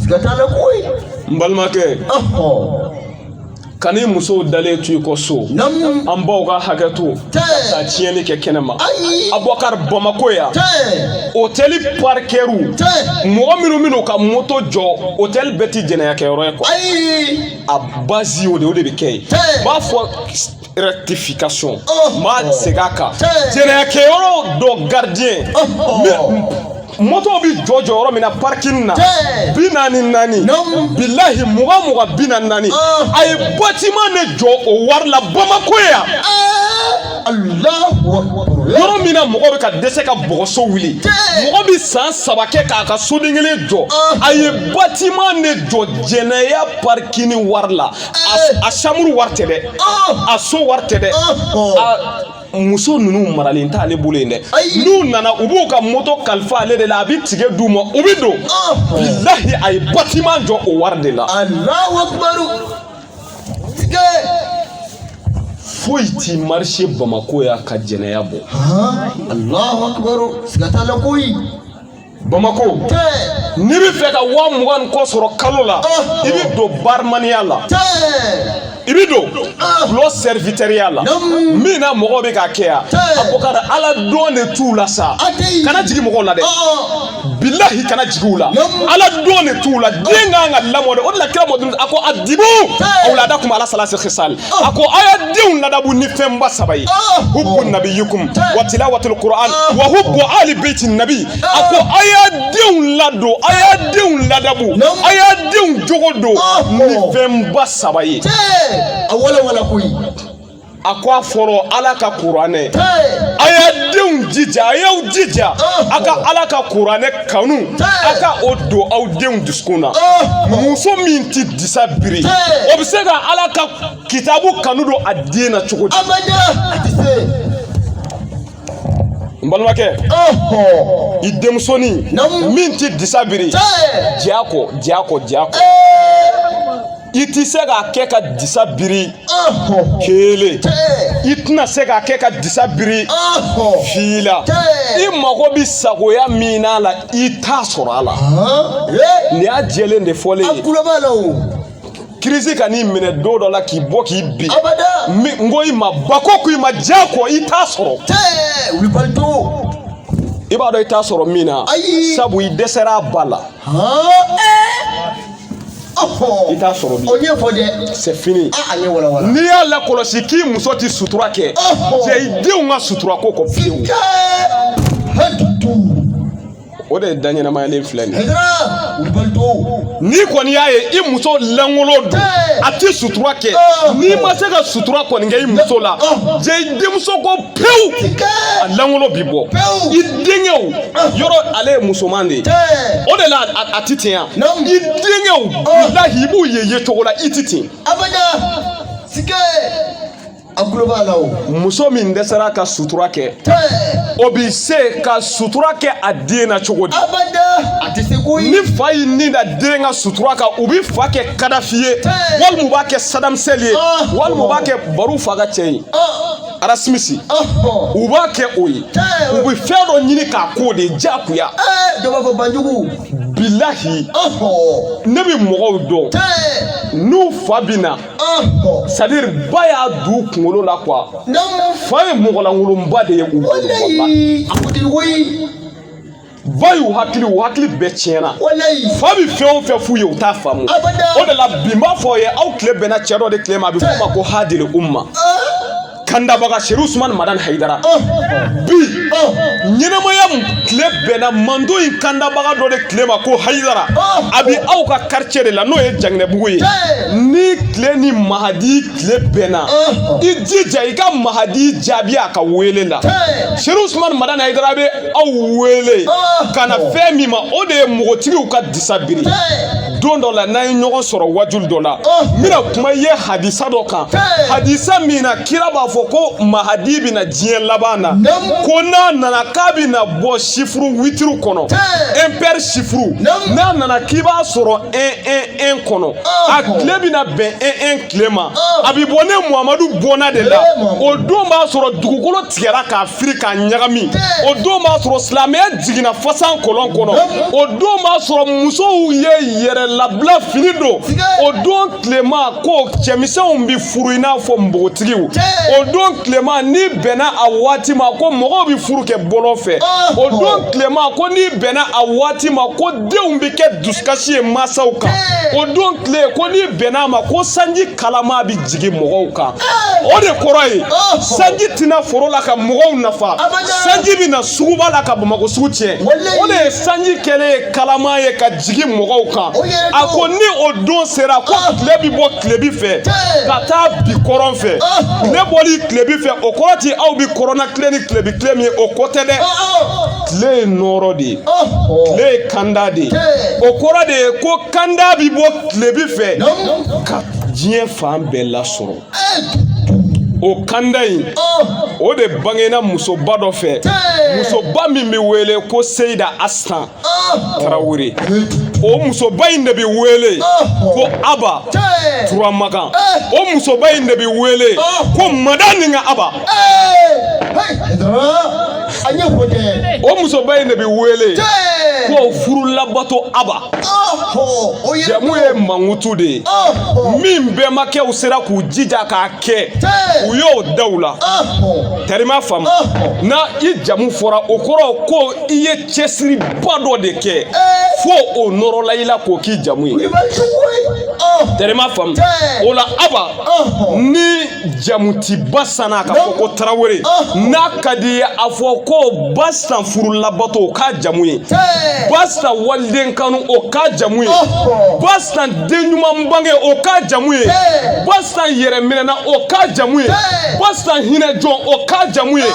siga t'a la koyi n balimakɛ kan'i musow dalen to i kɔ so an baw ka hakɛ to ka tiɲɛni kɛ kɛnɛ ma abubakar bamako yan hotɛli parikɛriw mɔgɔ minnu min'u ka moto jɔ hotɛli bɛɛ ti jɛnɛyakɛyɔrɔ ye kuwa a bazi o de o de bɛ kɛ yen u b'a fɔ rectification m'a segin a kan jɛnɛyakɛyɔrɔ dɔ gardien moto bi jɔ jɔ yɔrɔ min na parking na bi naani naani bilahi mugan mugan bi naani naani a ye batiman de jɔ o wari la bamako yan yɔrɔ min na mɔgɔ bɛ ka dɛsɛ ka bɔgɔso wuli mɔgɔ bɛ san saba kɛ k'a ka soden kelen jɔ a ye batiman de jɔ jɛnɛya parikini wari la a chambre wari tɛ dɛ a so wari tɛ dɛ muso ninnu maralen tɛ ale bolo yen dɛ n'u nana u b'u ka moto kalifa ale de la a bɛ tikɛ d'u ma u bɛ don bilahi a ye batiman jɔ o wari de la foyi ti marise bamako yan ka jɛnɛya bɔ alahu akibaru siga t'a la koyi Bamakɔ n'i bɛ fɛ ka wa mugan kɔ sɔrɔ kalo la i bɛ don barimaniya la i bɛ don dulɔ sɛriwitɛriya la min na mɔgɔ bɛ ka kɛ yan abubakar ala don de t'u la sa kana jigin mɔgɔw la dɛ bilahi kana jigin u la ala don de t'u la den ka kan ka lamɔ de o de la kira mɔden a ko adibu awuladakum ala salasi kisali a ko aw ye denw ladabu ni fɛnba saba ye hubu nabiyukum wa tilawatul qur'an wa hubu ali beiti nabi a ko aw ye denw ladon aw ye denw ladabu aw ye denw jogo don ni fɛnba saba ye a walawala koyi a ko a fɔlɔ ala ka kuranɛ a ye denw jija a y'aw jija a ka ala ka kuranɛ kanu a ka o don aw denw dusukun na muso min tɛ disa biri o bɛ se ka ala ka kitabu kanu don a den na cogo di n balimakɛ i denmusonin min tɛ disa biri diya kɔ diya kɔ diya kɔ i tɛ se k'a kɛ ka disa biri kelen i tɛna se k'a kɛ ka disa biri fila i mago bɛ sagoya min n'a la i t'a sɔrɔ a la nin y'a jɛlen de fɔlen ye crise ka n'i minɛ don dɔ la k'i bɔ k'i bin n ko i ma ba ko ko i ma diya kɔ i t'a sɔrɔ i b'a dɔn i t'a sɔrɔ min na sabu i dɛsɛra a ba la i t'a sɔrɔ bi. o ye fɔ dɛ. c'est fini. a ye walawala. n'i y'a lakɔlɔsi k'i muso ti sutura kɛ. jɛ i denw ka sutura ko kɔ fiyewu. o de ye da ɲɛnamayalen filɛ nin ye. n'i kɔni y'a ye i muso lankolon don a ti sutura kɛ n'i ma se ka sutura kɔni kɛ i muso la jɛ i denmuso kɔ pewu a lankolon bi bɔ i denkɛw yɔrɔ ale ye musoman de ye o de la a ti ten yan i denkɛw bilahi i b'u ye ye cogo la i ti ten a kulo b'a la o muso min dɛsɛra ka sutura kɛ o bi se ka sutura kɛ a den na cogo di a tɛ se ko ye ni fa y'i ni da den ka sutura kan u bi fa kɛ kadafi ye walima u b'a kɛ saddam hussein ye walima u b'a kɛ baru fa ka cɛ ye arasimisi u b'a kɛ o ye u bɛ fɛn dɔ ɲini k'a k'o de ye diyagoya dɔbɔ banjugu bilahi ne bɛ mɔgɔw dɔn n'u fa bɛ na c'est-à-dire ba y'a don u kunkolo la quoi fa ye mɔgɔlankolonba de ye u bolo ba y'u hakili u hakili bɛɛ tiɲɛna fa bɛ fɛn o fɛn f'u ye u t'a faamu o de la bi n b'a fɔ aw ye aw tile bɛnna cɛ dɔ de tile ma a bɛ f'o ma ko hadil umma kandabaga seri usumani madan hayidara bi ɲɛnamaya tile bɛnna mantɔn in kandabaga dɔ de tile ma ko hayidara a bɛ aw ka quartier de la n'o ye janginɛbugu ye n'i tile ni mahadi tile bɛnna i jija i ka mahadi jaabi a ka wele la seri usumani madan hayidara bɛ aw wele ah. ka na fɛn min ma o de ye mɔgɔtigiw ka disa biri don dɔ la n'an ye ɲɔgɔn sɔrɔ wajuli dɔ la ah. n bɛna kuma ye hadisa dɔ kan hadisa min na kira b'a fɔ ko mahadi bɛ na diɲɛ laban na ko n'a nana k'a bɛna bɔ sifuru witiri kɔnɔ impair sifuru n'a nana k'i b'a sɔrɔ un un un kɔnɔ ah. a tile bɛna bɛn un un tile ma a bɛ bɔ ne muhamadu bɔnna de la eh, o don b'a sɔrɔ dugukolo tigɛra k'a firi k'a ɲagami o don b'a sɔrɔ silamɛya jiginna fasan kɔlɔn kɔnɔ o don b'a sɔrɔ musow ye yɛrɛ labila fini don o don tilema ko cɛmisɛnw bi furu i n'a fɔ npogotigiw o don tilema n'i bɛnna a waati ma ko mɔgɔw bi furu kɛ bɔlɔn fɛ o don tilema ko n'i bɛnna a waati ma ko denw bɛ kɛ dusukasi ye mansaw kan o don tile ko n'i bɛnna a ma ko sanji kalama bɛ jigin mɔgɔw kan o de kɔrɔ ye sanji tɛna foro la ka mɔgɔw nafa sanji bɛ na suguba la ka bamakɔ sugu tiɲɛ o de ye sanji kɛlen ye kalama ye ka jigin mɔgɔw kan a ko ni o don sera ko tile bɛ bɔ tilebi fɛ ka taa bi kɔrɔn fɛ tile bɔli tilebi fɛ o kɔrɔ ti aw bɛ kɔrɔna tile ni tilebi tile min ye o ko tɛ dɛ. tile ye nɔɔrɔ de ye tile ye kanda de ye o kɔrɔ de ye ko kanda bi bɔ tilebi fɛ ka diɲɛ fan bɛɛ lasɔrɔ o kanda in o de bangena musoba dɔ fɛ musoba min bɛ wele ko seyida astan tarawele o musoba in de bɛ wele ko aba turamagan o musoba in de bɛ wele ko madani ka aba a ɲɛ ko tɛ o musoba in de bɛ wele Tee! ko furulabato aba Ɔhɔ, o ye jamu ye mankutu de ye Ɔhɔ, min bɛnbakɛw sera k'u jija k'a kɛ Tee! u y'o da u la ɔhɔ, tarima faamu Ɔhɔ. na i jamu fɔra o kɔrɔ ko i ye cɛsiriba dɔ de kɛ fo o nɔrɔla i la k'o k'i jamu ye i bɛ cogo ye. Ɔhɔ, tarima faamu Tee! o la aba Ɔhɔ. ni jamu ti bastan na k'a fɔ ko tarawele n'a ka di i ye a fɔ ko bastan furulabato o k'a jamu ye bastan waliden kanu o k'a jamu ye bastan den ɲuman bange o k'a jamu ye bastan yɛrɛminɛna o k'a jamu ye bastan hinɛ jɔn o k'a jamu ye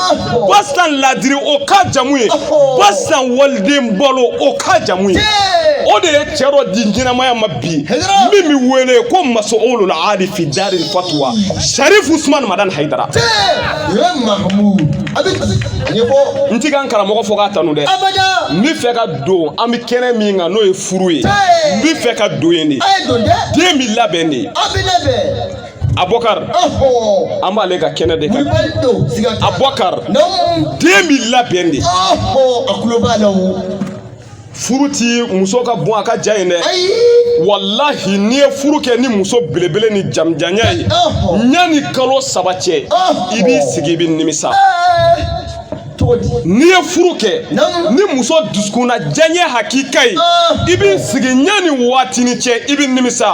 bastan ladiri o k'a jamu ye bastan waliden balo o k'a jamu ye o de ye cɛ dɔ di ɲɛnamaya ma bi min bɛ wele ko masuulul ali fi daril fatuwa sarifu usman madani hayidara n ti ka n karamɔgɔ fɔ k'a tanu dɛ n bɛ fɛ ka don an bɛ kɛnɛ min kan n'o ye furu ye n bɛ fɛ ka don yen de den bɛ labɛn de abɔkari an b'ale ka kɛnɛ de kan abɔkari den bɛ labɛn de a kulo b'a la o furu ti muso ka bon a ka jan ye dɛ walahi n'i ye furu kɛ ni muso belebele ni jamjanya ye yanni kalo saba cɛ i b'i sigi i bɛ nimisa n'i ye furu kɛ ni muso dusukunna diyaɲɛ hakika ye i b'i sigi yanni waatini cɛ i bɛ nimisa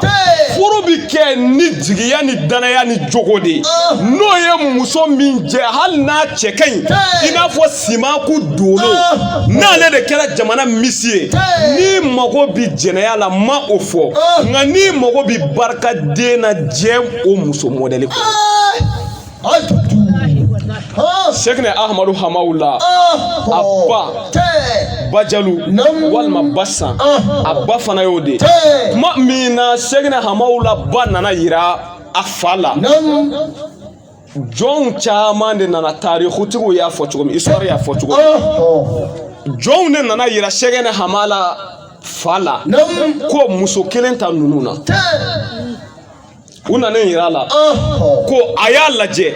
furu bɛ kɛ ni jigiya ni danaya ni jogo de ye n'o ye muso min jɛ hali n'a cɛ ka ɲi i n'a fɔ Simaku don ah. n'ale de kɛra jamana misi ye n'i mago bi jɛnɛya la ma o fɔ ah. nka n'i mago bi barika den na jɛn o muso mɔdɛli kɔ sɛkinɛ ahamadu hamawula ah. a ba bajalu walima basan a ba fana y'o de kuma min na sɛkinɛ hamawula ba nana yira a fa la jɔnw caman de nana tarikutigiw y'a fɔ cogo min histoire y'a fɔ cogo min jɔnw de nana yira sɛgɛnɛ hamala fa la ko muso kelen ta ninnu na u nana yira a la ko a y'a lajɛ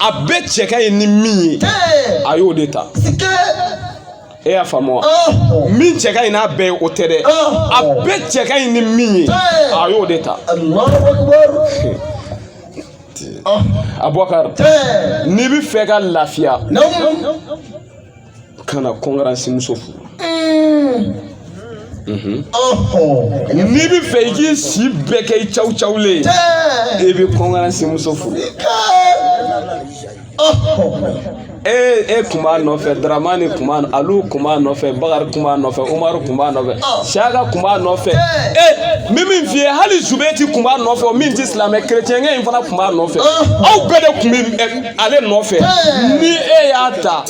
a bɛɛ cɛ ka ɲi ni min ye a y'o de ta e y'a faamu wa min cɛ ka ɲi n'a bɛɛ ye o tɛ dɛ a bɛɛ cɛ ka ɲi ni min ye a y'o de ta abubakar n'i bɛ fɛ ka lafiya kana kɔnkuransi muso furu n'i bɛ fɛ i k'i si bɛɛ kɛ i cawucawulen i bɛ kɔnkuransi muso furu e e kun b'a nɔfɛ daramani kun b'a alu kun b'a nɔfɛ bakari kun b'a nɔfɛ umaru kun b'a nɔfɛ siyaka kun b'a nɔfɛ e min min f'i ye hali zubeti kun b'a nɔfɛ o min tɛ silamɛ kerecɛnkɛ in fana kun b'a nɔfɛ aw bɛɛ de kun bɛ ale nɔfɛ ni e y'a ta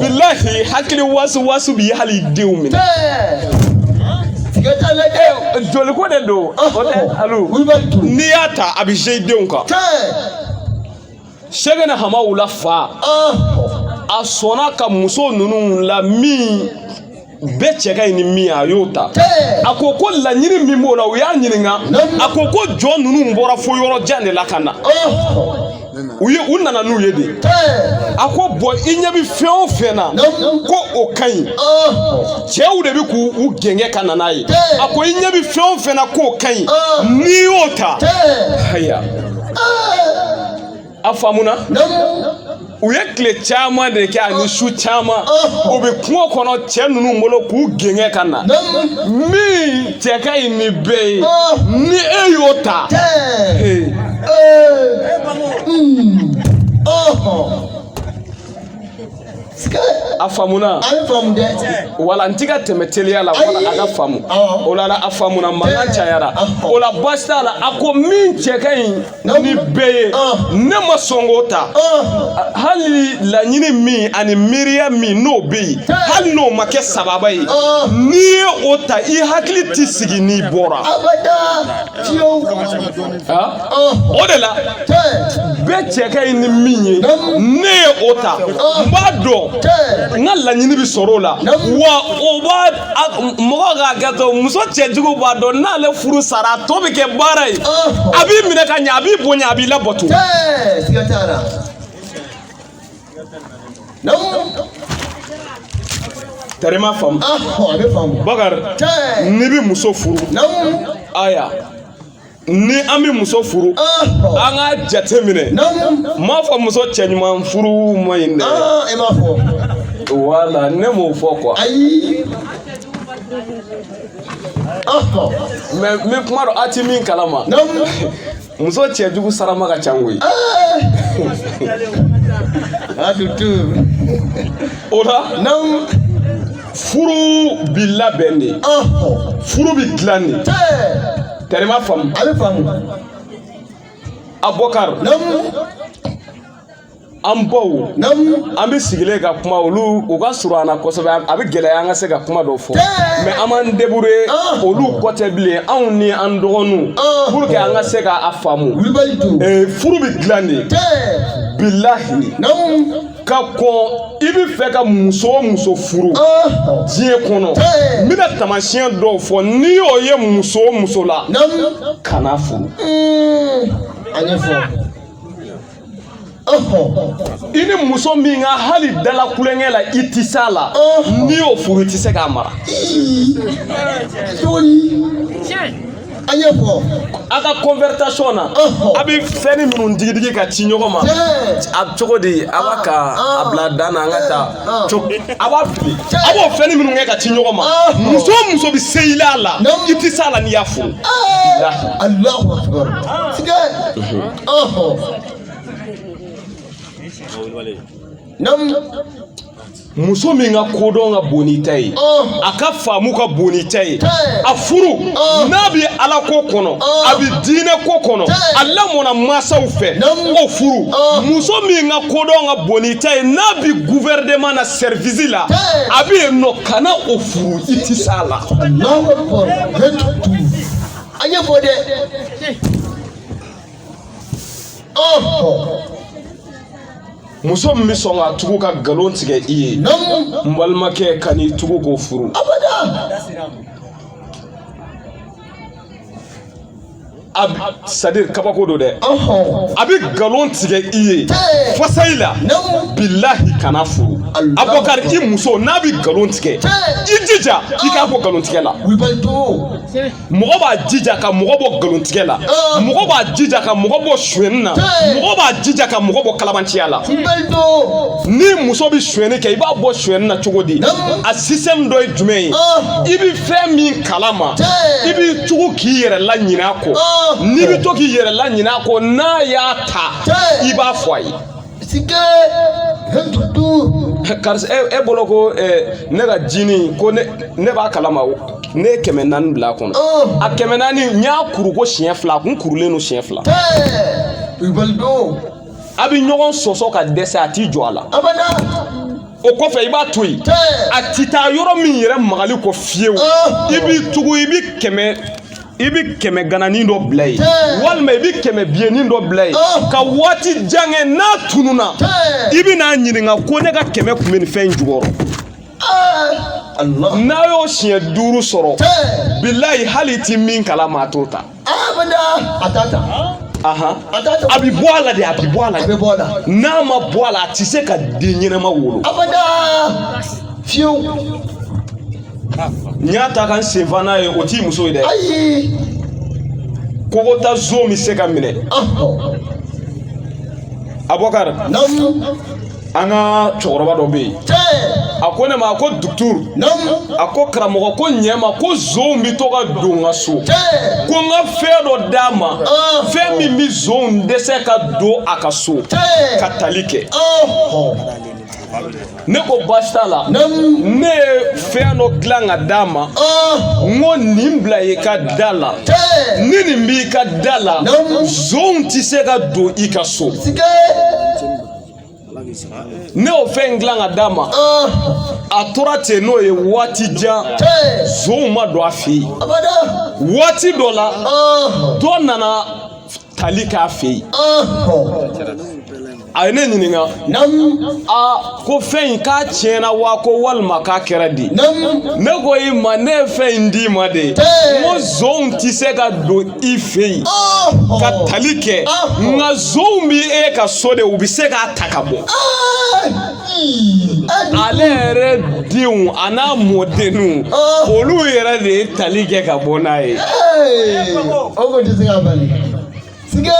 bilahi hakili wasuwasu b'i hali denw minɛ. joli ko de don o tɛ alu n'i y'a ta a bɛ se denw kan. sɛgɛnɛ hamawula fa a sɔnna ka muso ninnu la min bɛɛ cɛ ka ɲi ni min a y'o ta a ko ko laɲini min b'o la u y'a ɲininka a ko ko jɔn ninnu bɔra fo yɔrɔ jan de la ka na u ye u nana n'u ye de a ko bɔn i ɲɛ bɛ fɛn o fɛn na ko o ka ɲi cɛw de bɛ k'u u gɛngɛ ka na n'a ye a ko i ɲɛ bɛ fɛn o fɛn na k'o ka ɲi n'i y'o ta haya A faamuna u ye tile caman de kɛ ani su caman u bɛ kungo kɔnɔ cɛ ninnu bolo k'u gɛngɛ ka na min cɛ ka ɲi ni bɛɛ ye ni e y'o ta a faamuna a bɛ faamu dɛ wala n ti ka tɛmɛ teliya la wala a ka faamu o la a faamuna mankan cayara o la baasi t'a la a ko min cɛ ka ɲi ni bɛɛ ye ne ma sɔn k'o ta hali laɲini min ani miiriya min n'o bɛ yen hali n'o ma kɛ sababa ye n'i ye o ta i hakili tɛ sigi n'i bɔra o de la bɛɛ cɛ ka ɲi ni min ye ne ye o ta n b'a dɔn n ka laɲini bɛ sɔrɔ o la wa o b'a mɔgɔ k'a kɛ to muso cɛjugu b'a dɔn n'ale furu sara a tɔ bɛ kɛ baara ye a b'i minɛ ka ɲɛ a b'i bonya a b'i labato. tari ma faamu bakari n'i bɛ muso furu aya ni an bɛ muso furu an ka jate minɛ n m'a fɔ muso cɛɲuman furu ma ɲi dɛ i b'a fɔ wala ne m'o fɔ quoi ayi mais n bɛ kuma dɔn a ti min kalama muso cɛjugu sarama ka ca koyi a dutu o la furu bi labɛn de furu bi dilan de tari ma faamu a bɛ faamu abɔkar an baw an bɛ sigilen ka kuma olu u ka surun an na kosɛbɛ a bɛ gɛlɛya an ka se ka kuma dɔ fɔ mais an b'an débrouiller ah. olu kɔ tɛ bilen anw ni an dɔgɔninw ah. pour que an ka se k'a faamu furu bɛ dilan de bilahi ka kɔn i bɛ fɛ ka muso o muso furu diɲɛ kɔnɔ n bɛna taamasiyɛn dɔw fɔ n'i y'o ye muso o muso la kana furu. a ɲɛfɔ. i ni muso min ka hali dala kulonkɛ la i tɛ s'a la n'i y'o furu i tɛ se k'a mara. an y'o fɔ a ka conversation na a bɛ fɛnnin minnu digidigi ka ci ɲɔgɔn ma a cogo di a b'a ka a bila dan na an ka taa a b'a fili a b'o fɛnnin minnu kɛ ka ci ɲɔgɔn ma muso o muso bɛ se i la a la i tɛ se a la n'i y'a furu. Alahu akibaru tigɛ ɔhɔn. Namu. muso min ka kodɔn ka bon n'i ta ye a ka faamu ka bon n'i ta ye a furu n'a bɛ ala ko kɔnɔ a bɛ diinɛ ko kɔnɔ a lamɔna mansaw fɛ o furu muso min ka kodɔn ka bon n'i ta ye n'a bɛ guvɛrɛnɛman na sɛrivisi la a bɛ yen nɔ kana o furu i tɛ s'a la. a ɲɛfɔ dɛ. muso min bɛ sɔn k'a tugu ka nkalon tigɛ i ye n balimakɛ kan'i tugu k'o furu c'est-à-dire kabako don dɛ a bɛ nkalon tigɛ i ye fasayi la bilahi kana furu abɔkar i muso n'a bɛ nkalon tigɛ i jija i k'a bɔ nkalon tigɛ la mɔgɔ b'a jija ka mɔgɔ bɔ nkalontigɛ la ah. mɔgɔ b'a jija ka mɔgɔ bɔ suyɛni na mɔgɔ b'a jija ka mɔgɔ bɔ kalabanciya la ni muso bɛ suyɛni kɛ i b'a bɔ suyɛni na cogo di a sisɛmu dɔ ye jumɛn ye ah. i bɛ fɛn min kalama i b'i tugu k'i yɛrɛ laɲin'a kɔ ah. n'i bɛ to k'i yɛrɛ laɲin'a kɔ n'a y'a ta i b'a fɔ a ye sike karisa e bolo ko ne ka jini ko ne b'a kalama ne ye kɛmɛ naani bila a kɔnɔ a kɛmɛ naani n y'a kuru ko siɲɛ fila a kun kurulen don siɲɛ fila a bɛ ɲɔgɔn sɔsɔ ka dɛsɛ a t'i jɔ a la o kɔfɛ i b'a to yen a ti taa yɔrɔ min yɛrɛ magali kɔ fiyewu i b'i tugu i bɛ kɛmɛ i bɛ kɛmɛ gananin dɔ bila yen walima i bɛ kɛmɛ biyennin dɔ bila yen oh. ka waati jan kɛ n'a tununna i bɛ n'a ɲininka ko ne ka kɛmɛ kun bɛ nin fɛn in jukɔrɔ eh. n'a y'o siɲɛ duuru sɔrɔ bilayi hali i ti min kalama a t'o ta a t'a ta a bɛ bɔ a la de a bɛ bɔ a la n'a ma bɔ a la a tɛ se ka den ɲɛnama wolo fiyewu n y'a ta ka n senfa n'a ye o t'i muso ye dɛ ayi kokota zon bɛ se ka minɛ abubakar an ka cɛkɔrɔba dɔ bɛ yen a ko ne ma a ko duturu a ko karamɔgɔ ko ɲɛma ko zonw bɛ to ka don n ka so ko n ka fɛn dɔ d'a ma fɛn min bɛ zonw dɛsɛ ka don a ka so ka tali kɛ ne ko baasi t'a la ne ye fɛn dɔ dilan ka d'a ma n ko nin bila i ka da la ni nin b'i ka da la zonw tɛ se ka don i ka so ne y'o fɛn in dilan ka d'a ma a tora ten n'o ye waati jan zonw ma don a fɛ yen waati dɔ la dɔ nana tali k'a fɛ yen a ye ne ɲininka a ko fɛn in k'a tiɲɛna wa ko walima k'a kɛra di ne ko i ma ne ye fɛn in d'i ma de n ko zonw tɛ se ka don i fɛ yen ka tali kɛ nka zonw bɛ e ka so de u bɛ se k'a ta ka bɔ ale yɛrɛ denw a n'a mɔdenw olu yɛrɛ de ye tali kɛ ka bɔ n'a ye. o ko tɛ se ka bali. sige.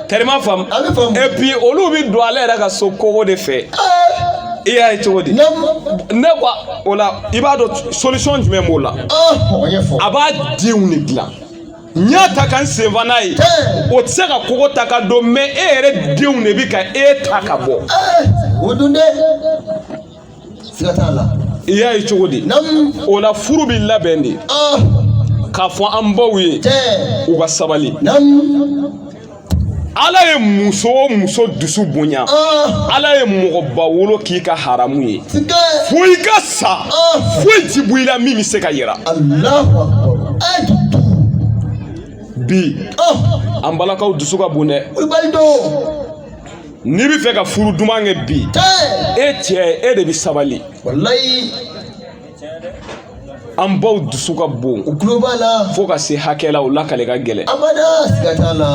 kɔri i m'a faamu. a bɛ faamu. et puis olu bɛ don ale yɛrɛ ka so kogo de fɛ. i y'a ye cogo di. ne ko o la i b'a dɔn solution jumɛn b'o la. a b'a denw de dilan. n y'a ta ka n sen fa n'a ye o tɛ se ka kogo ta ka don mɛ e yɛrɛ denw de bi ka e ta ka bɔ o dun dɛ siga t'a la i y'a ye cogo di o la furu bi labɛn de k'a fɔ an baw ye u ka sabali ala ye muso o muso dusu bonya ah. ala ye mɔgɔba wolo k'i ka haramu ye fo i ka sa ah. foyi ti bɔ i la min bɛ se ka yira bi ah. an balakaw dusu ka bon dɛ n'i bɛ fɛ ka furu duman kɛ bi e cɛ e de bɛ sabali an baw dusu ka bon u tulo b'a la fo ka se hakɛ la o lakale ka gɛlɛn abada siga t'a la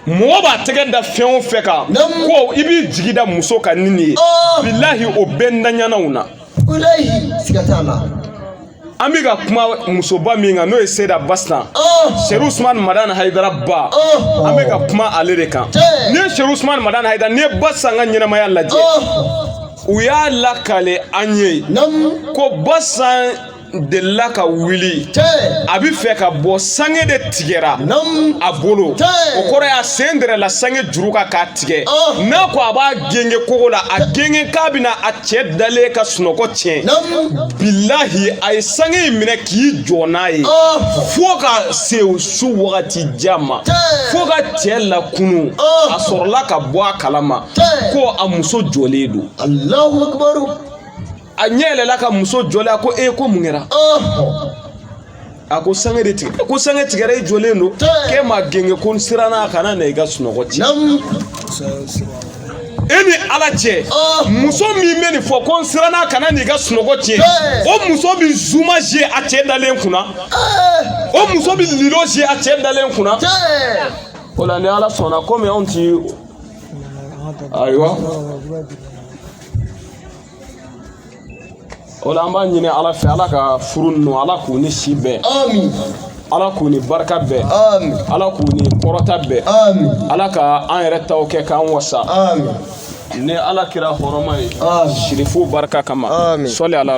mɔgɔ b'a tɛgɛ da fɛn o fɛn kan ko i b'i jigi da muso kan ni nin ye oh! bilahi o bɛɛ ntanyanaw na siga t'a la an bɛ ka kuma musoba min kan n'o ye seyida basitan oh! serifu usumani madani hayidara ba oh! an bɛ ka kuma ale de kan n'i ye serifu usumani madani hayidara n'i ye basitan ka ɲɛnamaya lajɛ u y'a lakale an ye ko basitan delila ka wuli a bɛ fɛ ka bɔ sange de tigɛra a bolo o kɔrɔ y'a sen dɛrɛla sange juru kan k'a tigɛ oh. n'a ko a b'a genge kogo la a genge kan bɛna a cɛ dalen ka sunɔgɔ tiɲɛ bilahi a ye sange in minɛ k'i jɔ n'a ye oh. fo ka se su wagati jan ma fo ka cɛ lakunu oh. a sɔrɔla ka bɔ a kalama ko a muso jɔlen don a ɲɛ yɛlɛla ka muso jɔlen a ko e ko mun kɛra a ko sange de tigɛ ko sange tigɛra e jɔlen don k'e ma genge ko n siranna a kana na i ka sunɔgɔ tiɲɛ e ni ala cɛ muso min bɛ nin fɔ ko n siranna kana n'i ka sunɔgɔ tiɲɛ o muso bɛ zuma ze a cɛ dalen kunna o muso bɛ lilo ze a cɛ dalen kunna o la ni ala sɔnna komi anw ti ayiwa o la an b'a ɲini ala fɛ ala ka furu ninnu ala k'u ni si bɛn ala k'u ni barika bɛn ala k'u ni kɔrɔta bɛn ala ka an yɛrɛ taw kɛ k'an wasa ni ala kira hɔrɔma ye sirifu barika kama sɔli ala